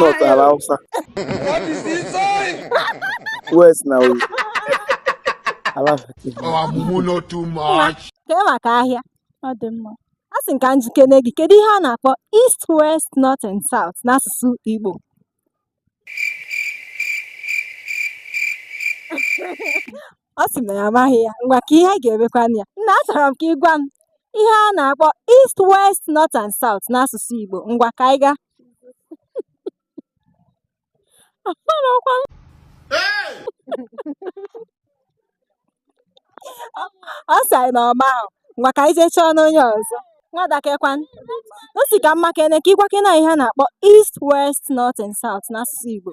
North ala Hausa. West na Oyo. Ala Kee maka ahịa ọ dị mma asị m ka m jụkene gị kedu ihe a na-akpọ East West North and South n'asụsụ Igbo ọ sị na ya amaghị ya ngwa kee ihe anyị ga-emekwanụ ya nna achọrọ m ka ị gwa m ihe a na-akpọ east west north and south n'asụsụ Igbo ngwa ka anyị gaa ọ sị anyị na ọ mahụ ngwa ka anyị jee chọọnụ onye ọzọ nwada keekwanụ asị ka m makene ka ị gwakene ihe a na-akpọ east west north and south n'asụsụ Igbo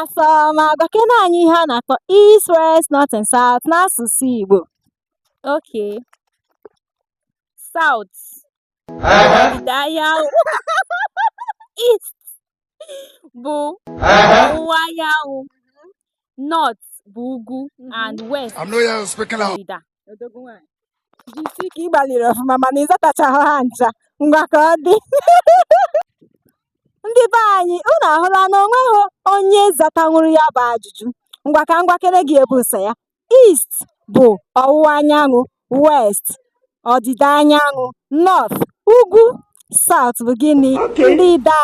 Asị m gwakene anyị ihe a na-akpọ East, West, North and South n'asụsụ Igbo. Okay. South. Ọdịda anyanwụ. East bụ ọwụwa anyanwụ. North bụ ugwu and West I'm not here speaking out. ndịda. odogwu nwaanyị jisie ike ị gbalịrị ọfụma mana ị zatachahụ ha ncha ngwa ka ọ dị ndị be anyị unu ahụla na o nweghị onye zatanwuru ya bụ ajụjụ ngwa ka m gwakene gị ihe bụ ụsa ya east bụ ọwụwa anyanwụ west ọdịda anyanwụ north ugwu south bụ gịnị ndịda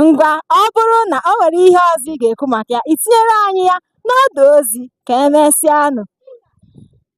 ngwa ọ bụrụ na o nwere ihe ọzọ ị ga-ekwu maka ya i tinyere anyị ya n'ọdụ ozi ka emesịanụ